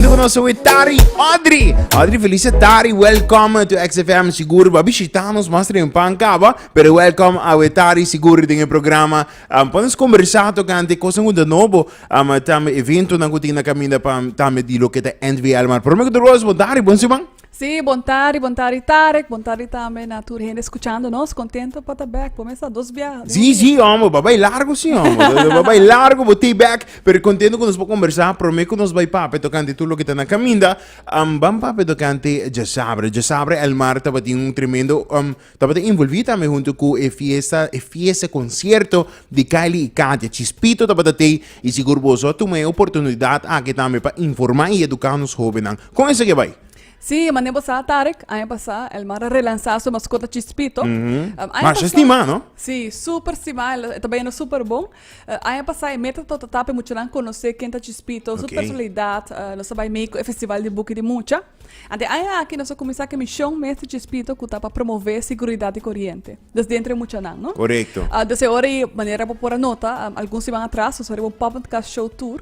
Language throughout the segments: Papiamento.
Ku nos we Tari Audrey. Audrey Felice Tari, welcome to XFM Sigur. Ba bishita nos mas rin pan kaba, pero welcome a we Tari Sigur den e programa. Um, pones conversa tocante cosa ngunda nobo, um, tambe evento na kutina caminda pa tambe di lo que ta NVL. Maar promeko de roos, bo Tari, bon siman. Sí, bon tardi, bon tardi Tarek, bon tardi tambe na tur hende escuchando nos. Contento pa ta back, por mester dos biaha. den un Sí, dia. sí, hombre, bo bay largo, sí, hombre. Bo- Bo bay largo, bo te back. Pero contento con nos por conversar. Prome con nos bay pape tocante todo lo que ta na caminda. Am, ban pape tocante Jasabre. Jasabre, El Mar, tabatin un tremendo... am, Tabata envolví tambe huntu ku e fiesta, e fiesta, e konsierto di Kylie i Katia. Chispito tabata tei i sigur boso a tuma e oportunidat aki tambe pa informá i eduká nos hóbennan. Kon esaki a bai? Sí, manera bo sa, Tarek, aña pasá el mara relansá su maskota Chispito. Mashá stimá, no? Sí, súper stimá, el ta bañando súper bon. E aña pasá e meta tabata ta pa e muchanan konosé ken ta Chispito, su personalidat. Nos a bai mei ku e festival di buki di mucha. Anto e aña aki nos a kuminsá ku e mishon mes di Chispito ku ta pa promové siguridat di koriente des dentro e muchanan, no? Korekto. Desde ora i manera bo por a nota, algun siman atras nos a riba un pop-and-cast show tour.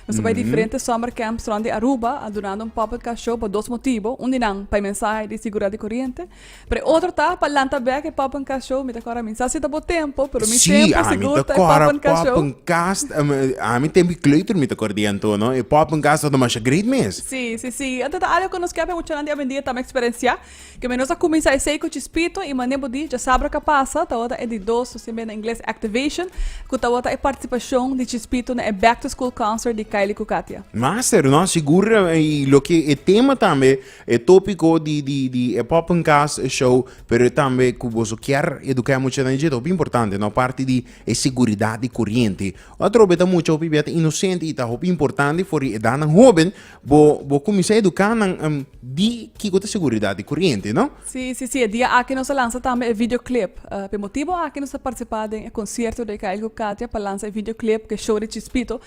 Nos a bai diferente summer camps rond di Aruba, a duna nan pop-up car show pa dos motibo. Un di nan pa e mensahe di sigurdat di koriente. Pero e otro ta pa lanta bek e pop-up car show. Mi ta kor ami sa si ta bo tempo, pero mi tempo sigur ta e pop-up car show. Sí, ami ta kor a pop-up car show. Ami tempo di kleuter mi ta kor di anto. E pop-up car show ta masha great mes. Sí, sí, sí. Anto ta algo ku nos kepia muchanan di awendia tambe eksperensiá. Keme nos a kuminsá esei ku chispito i manera bo di djasabra ka pasa tabata e di dos nos tin mei na ingles activation ku tabata e partisipashon di chispito na e back to school concert di Kylie ku Katia. Master, no, sigur i loke e tema tambe e topiko di di di e Poppencast show, pero tambe ku boso kier eduká e muchanan dje ta hopi importante, no, parti di e seguridat di koriente. Atrobe ta mucha hopi bia ta inosente i ta hopi importante for di edatnan hoben, Bo, bo kuminsá eduká nan em, di kiko ta seguridat di kuriente, no? Sí, sí, sí, e dia aki nos a lansa tambe e videoclip. Uh, p'e motibu aki nos a partisipá den e konsierto di Kyle ku Katia pa lansa e videoclip ku e show di Chispito.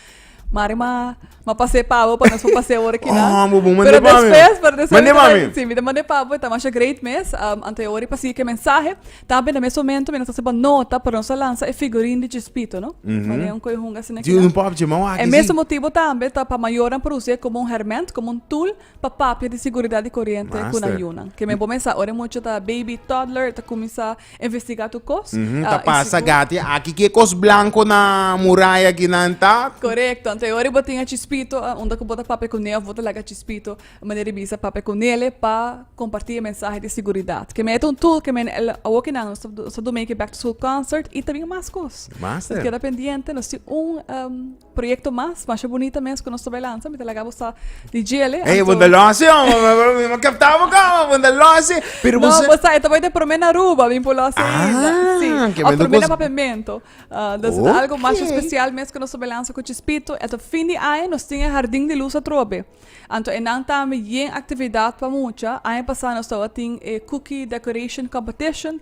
Mari ma, ma pas'é pa bo pa nos por pas'é ora kila. Oh, bo, bo mand'é Pero pa mi. despues, pero despues Mand'é pa mi. Sí, mi ta mand'é pa bo, ta masha great mes. Um, anto e ora i pa sigui ku e mensahe. Tambe na mes momento mi no ta haciba nota pero nos a lansa e figurin di Chispito no manera un coyojun asina aquí Di un pop dje mau aki E si. mesun motibo tambe ta pa mayornan produci e como un herment, como un tool pa papia di seguridad di corriente cu Master. nan yunan. Ke mi a bo mesa ora e mucha ta baby, toddler, ta cuminsa investiga tur cos. Mhm, Ah, Ta y pasa sigur- gati aki ke cos blanco na muraya aquí nan ta. Correcto. Anto e ora bo tin a Chispito, ah, unda cu bo ta papia cu neo of bo ta laga Chispito. Mene Ribisa papia cu Nele pa comparti e mensahe di siguridad. Keme ta un tool keme el awo kinan nos ta nos ta do make e back to school concert y ta bin mas cos. Master. Nos keda pendiente nos tin un em, proyecto mas masha bonita mes cu nos ta bay lansa mi ta laga bo sa di djele. Hey, bunda losi, hombre. Me captaba como, bunda losi. Pero No, você. pues esta boy de prome na Aruba, bin por los Ah, isla. Sí. que Of me do prome na cos- papemento. Ah, dus Ok. algo más especial mes que nos tobe lanza cu Chispito. Eto fin di aña nos tin e Hardin di Luz atrobe. Anto e nan tambe yen actividad pa mucha. Aña pasa nos tabata tin e cookie decoration competition.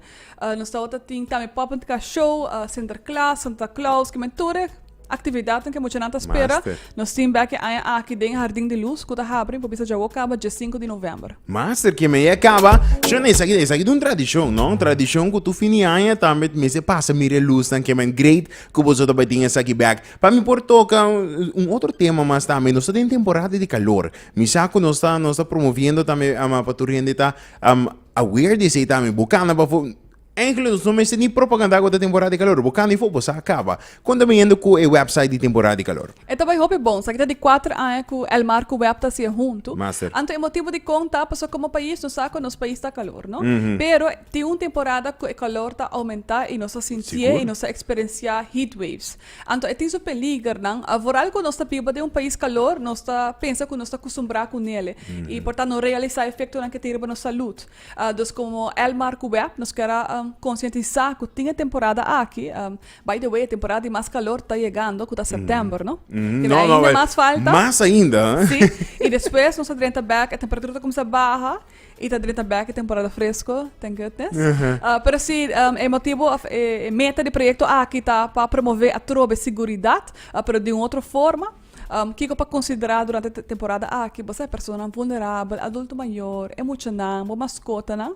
Nos tabata tin tambe puppet car show, Sinterklaas, Santa Claus, kimen tur e actividadnan ke muchanan ta spera. Master. Nos tin bek e aña aki den Hardin di Luz cu ta habri, bo bisa djawo caba die sinku di november. Master, kimen ei a caba. Shon, esaki, esaki ta un tradicion, no? Un tradicion cu tur fin di aña tambe mester pasa mira e luznan, kimen great cu boso ta bai tin esaki bek. Pa mi por toca un otro tema mas tambe. Nos ta den temporada di calor. Mi sa cu nos ta, nos ta promoviendo tambe pa tur hende ta aware di esey tambe. Bo cana pafo, eggelijk nos no mester ni propaganda cu ta temporada di calor. Bo cana di fo, bo sa a caba. Con ta biniendo cu e website di temporada di calor? E ta bay hopi bon. Esaki ta di cuater aña cu El Mar cu web ta haci e hunto. Master. Anto e motibo dicon ta pasobra como pais nos sa cu nos pais ta calor, no? Pero tin un temporada cu e calor ta aumenta y nos ta sintié y nos ta experencia heat waves. Anto e tin su peligernan. Vooral ku nos ta biba den un pais kalor, nos ta pensa ku nos ta kustumbrá ku nele i por ta no realisá efektonan ke tin riba nos salud. Dus komo Elmar ku Web nos kier a konsientisá ku tin e temporada aki, bai de wei e temporada di mas kalor ta yegando ku ta sèptèmber, no? Ke bai ainda mas falta. Mas ainda, ha? Sí, i despues nos ta drenta bèk, e temperatura ta kumsa baha. Y ta drenta bek e temporada fresco, thank goodness. Pero si e motibo of e meta di proyecto aki ta pa promove atrobe siguridad, pero di un otro forma, kico pa considera durante e temporada aki? Bo sa e personanan vulnerabel, adulto mayor, e muchanan, bo mascotanan.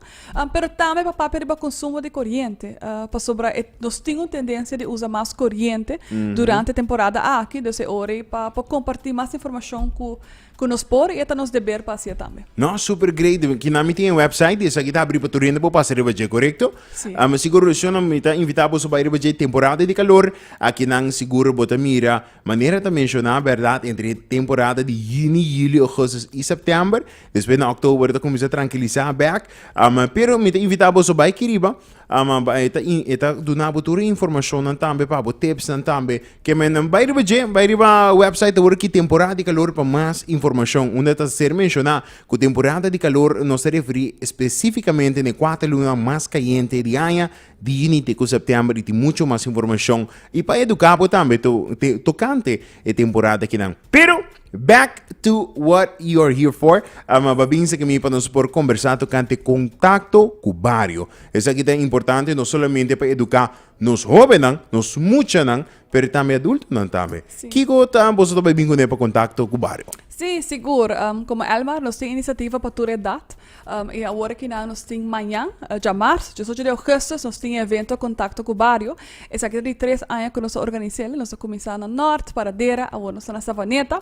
Pero tambe pa papia riba consumo di coriente, pasobra nos tin un tendencia di usa mas coriente durante e temporada aki, dus e ora ei pa por comparti mas informacion cu. Cu nos por y e ta nos deber pa haci'e tambe. No, super great. Kina mi tin e website di esaki ta abri pa tur hende por pasa riba dje, corecto? Si. Um, si corazon no mi ta invita boso bay riba dje temporada di calor. Akinan seguro bo ta mira manera ta menciona, berdad, entre temporada di juni, julio, augustus y september. Despues na october ta cuminsa trankiliza bek. Um, pero mi ta invita boso bay ki riba Um a e ta e ta duna bo tur e informashonnan tambe pa bo tipsnan tambe ke men nan bai riba dje bai riba wèpsait awor aki temporada di kalor pa mas informashon unda ta ser menshoná ku temporada di kalor nos ta referí espesífikamente na e kuater lunanan mas kayente di aña di yuni te ku sèptèmber i tin muchu mas informashon i pa eduká bo tambe to tokante e temporada akinan pero. Back to what you are here for. Um, a babin sa kimi pa nos por conversa tocante contacto cu bario. Esa kita importante no solamente pa educa nos hobennan, nos muchanan, pero tambe adultonan tambe. Si. Kico ta boso ta babin cune pa contacto cu bario? Sí, sigur. Um, como Elmar, nos tin iniciativa pa tur edad. Um, y awor aquí na nos tin mañan, uh, dja marzo, 18 de augustus, nos tin evento contacto cu barrio. Esaki di tres aña cu nos a organizel. Nos a cuminsa na Noord, Paradera, awor nos na Savaneta.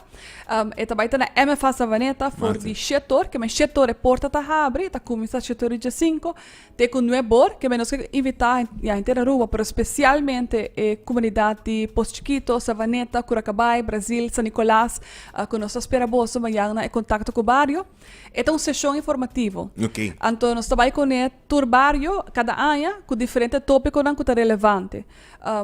Um, e ta baita na MFA Savaneta for di shetor, que men shetor e porta ta habri, ta cuminsa shetor di Jacinco, te cu nuebor, que men nos que invita ya entera Aruba, pero specialmente e comunidad di Pozo Chiquito, Savaneta, Curacabay, Brazil, San Nicolas, uh, cu nos a spera boso mañana e contacto cu barrio. E ta un seshon informativo. Anto nos ta bai kuné tur bario kada aña ku diferente tópikonan ku ta relevante.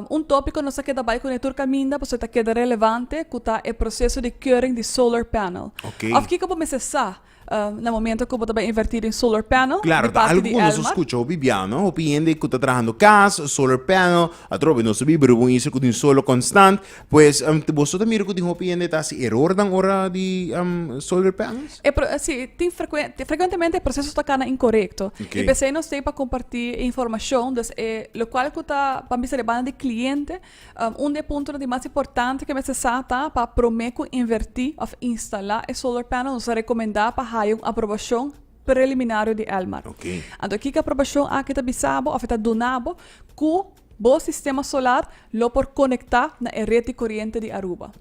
Un tópiko nos a keda bai kuné tur kaminda pasobra e ta keda relevante ku ta e proseso di keuring di solar panel. Òf kiko bo mester sa na momentu ku bo ta bai invertí den solar panel di parti di Elmar. Klaro, ta algu ku nos a skucha hopi biaha. Hopi hende ku ta trahando kas, solar panel, atrobe nos ta biba riba un isla ku tin solo konstant. Pues um, te boso ta mira ku tin hopi hende ta hasi erornan ora di um, sol repair anges? E pro, si, tin frecuente, tin frecuentemente e proceso ta kana incorrecto. Ok. Y p'esei nos tin pa comparti e informacion, dus e lo cual cu ta pa bisa di banda di cliente, um, un de puntonan di mas importante cu mester sa ta pa prome cu inverti of instala e solar panel nos ta recomenda pa haya un aprobacion preliminario di Elmar. Ok. Anto kiko aprobacion aki ta bisabo of e ta dunabo cu Bo sistema solar lo por konektá na e ret di koriente di Aruba.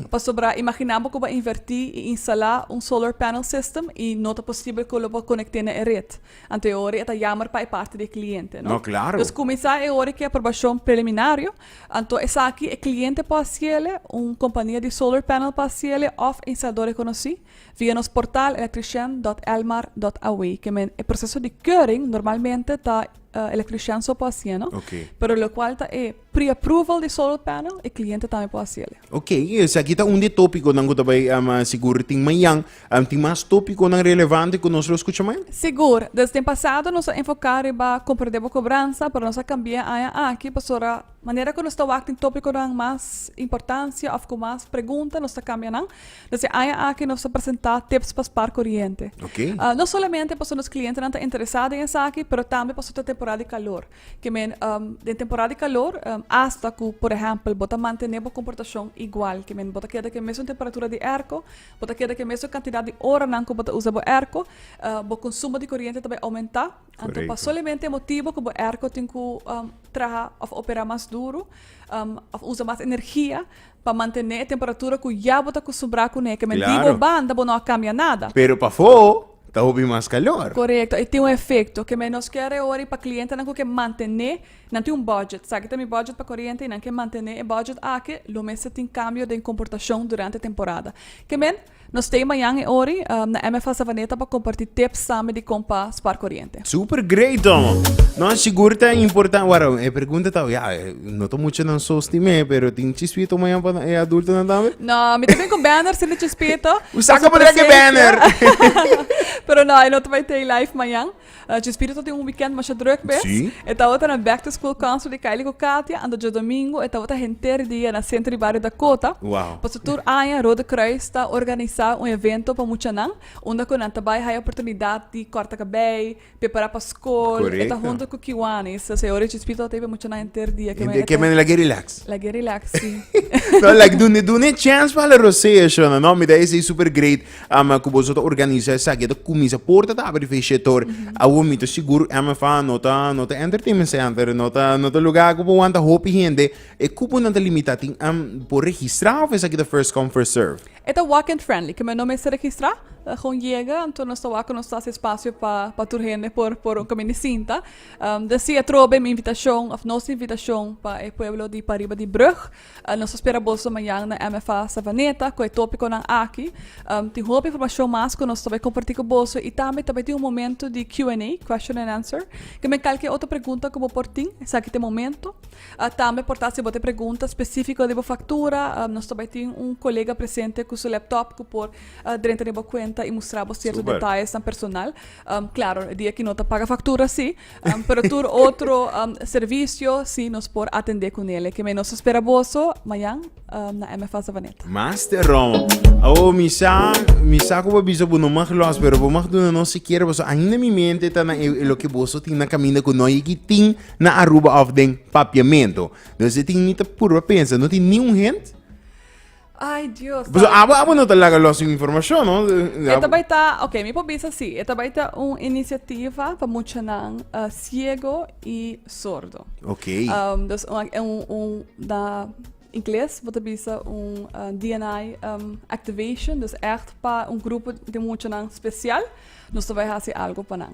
Pasobra imaginá bo ku bo a invertí i instalá un solar panel system i no ta posibel ku lo por konekté na e ret. Anto e ora e ta yammer pa e parti di e kliente, no? Dus kuminsá e ora ku e aprobashon preliminario, anto esaki e kliente por hasiele, un kompania di solar panel por hasiele òf e instalador rekonosí, via nos portal electrician dot elmar dot aw. Ke men e proseso di keuring normalmente ta. uh, electrician so por haciendo. Okay. Pero lo cual ta e pre-approval de solar panel, e cliente también por hacer. Ok, es aquí está un de tópico nan que tabay um, ah, seguro tin mañan, um, tin más tópico nan relevante que nos lo escucha mañan. Seguro, desde el pasado nos enfocar riba compra de cobranza, pero nos cambia aña aquí, pasora Manera ku nos ta wak tin topikonan mas importansia òf ku mas pregunta, nos ta kambia nan. Dus e aña aki nos ta presentá tips pa spar koriente. No solamente pasobra nos klientenan ta interesá den esaki, pero tambe pasobra ta temporada di kalor. Ke men, den temporada di kalor, asta ku por ehèmpel bo ta mantené bo komportashon igual, ke men bo ta keda ku e mesun temperatura di èrko, bo ta keda ku e mesun kantidat di oranan ku bo ta usa bo èrko, bo konsumo di koriente ta bai oumentá. Anto pa solamente e motibo ku bo airco tin ku traha òf opera mas duru òf usa mas energia pa mantené e temperatura ku ya bo ta akustumbrá kuné ke menti bo Klaro. banda bo no a kambia nada. Pero pafó ta hopi mas kalor. Korekto, e tin un efekto. Keme nos kere e ora i pa klientenan ku ke mantené, nan tin un bòdjèt, sa aki ta mi bòdjèt pa koriente i nan ke mantené e bòdjèt aki, lo mester tin kambio den komportashon durante temporada. Ke men Nos stay mañan e ori na MFA Savaneta pa comparti tips sami di con pa spar coriente. Super great domo! No, sigur ta important, waro, e pregunta ta, ya, no ta muchanan so sti me, pero tin chispito mañan pa e adultonan tambe? No, mi ta bin cu Banner sin di chispito. Usa cu podrá cu e Banner! Pero no, e no ta bay tei live mañan. Dje spirito tin un weekend masha druk bes. E tabata na back to school concert di Kylie ku Katia, anto dje domingo e tabata henter dia na senter di bario Dakota. Pasobra tur aña Rode Kruis ta organisá un evento pa muchanan unda ku nan ta bai haya oportunidat di kòrta kabei, prepará pa skol. E ta hunto ku Kiwanis. Sesa e ora di dje spirito tabata ei pa muchanan henter dia. Ke manera lag'e relax. Lag'e relax, si. Lag'e dune e chance pa hala rosea, Shona? No, mi ta esei super great. Ama ku boso ta organisa esaki e ta kuminsa por ta tabri fi shetor awor mi ta sigur MFA no ta no ta entertainment center no ta no ta lugar ku por wanta hopi hende e kuponan ta limita tin am por registra of esaki ta first come first serve. E ta walk in friendly ke men no mester registra ta gon yega anto nos ta wak ku nos ta hasi espasio pa pa tur hende por por un kaminda sinta deci atrobe mi invitashon of nos invitashon pa e pueblo di pariba di brug. Nos ta spera boso mañan na MFA Savaneta ku e topikonan aki. Tin hopi informashon mas ku nos ta bai kompartí ku boso i tambe ta bai tin un momentu di Q&A, Question and Answer. Kembe kalke otro pregunta ku bo por tin, esaki ta e momentu. Tambe por ta si bo ta e pregunta spesífiko di bo faktura, nos ta bai tin un kolega presente ku su laptop ku por drenta den bo kuenta i mustra bo sierto detayesnan personal. Klaro, e dia ku no ta paga faktura así, Pero tur otro servicio si nos por atende cu nele. Keme nos ta spera boso mayan na MFA Savaneta. Master Roma. Awo mi sa, mi sa cu bo bisa bo no mag los, pero bo mag duna nos sikier boso. Ainda mi mente ta na e, e loke boso tin na caminda cu no yeki tin na Aruba of den Papiamento. Nos e tin mi ta purba pensa, no tin ni un hint? Ay, Dios. Pues santo. abo, abo no te laga los sin información, ¿no? E Abo- ta bai ta, ok, mi por bisa si, e ta bai ta un iniciativa pa muchanan eh, ciego y sordo. Ok. Um, dus un, un, un, da inglês, vou te bisa un uh, DNI um, activation, dus echt pa un grupo de muchanan special, nos te vai hasi algo pa nan.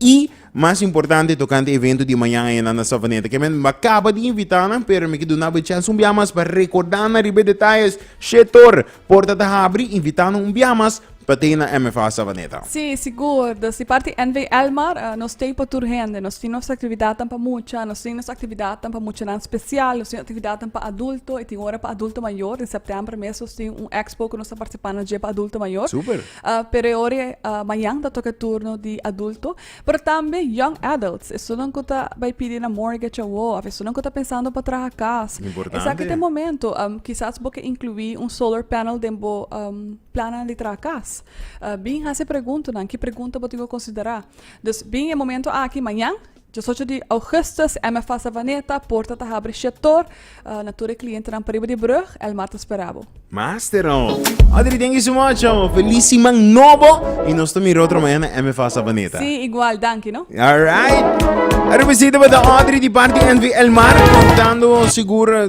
I mas importante tokante evento di mañan ayana na Savaneta, ke men a kaba di invitá nan, pero mi ke dunaba e chèns un bia mas pa rekordá nan riba e detayes. Shetor, porta ta habri, invitá nan un bia mas pa t'ei na MFA Savaneta. Sí, sigur. Dor di parti NV. Elmar, nos t'ei pa tur hende. Nos tin nos aktividatnan pa mucha, nos tin nos aktividatnan pa muchanan spesial, nos tin aktividatnan pa adulto, i tin ora pa adulto mayor. Den sèptèmber mes nos tin un èkspo ku nos ta partisipá na dje pa adulto mayor. Súper! Pero e ora mañan ta toka e turno di adulto. Pero tambe young adults, esunnan ku ta bai pidi na mortgage awo òf esunnan ku ta pensando pa traha kas. Esaki ta e momento. Kisas bo ke inkluí un solar panel den bo plannan di traha kas. Bin hasi e preguntanan. Ki pregunta bo tin ku konsiderá? Dus bin e momento aki mañan Diesocho di Augustus MFA Savaneta porta ta habri shetor na tur e klientenan pariba di brug el martes perabo. Master no. Adri thank you so much amo. Feliz siman nobo y nos ta mira otro mañana MFA Savaneta. Si igual danki no. Alright. Aru besito pa ta Audrey di parti NV Elmar contando seguro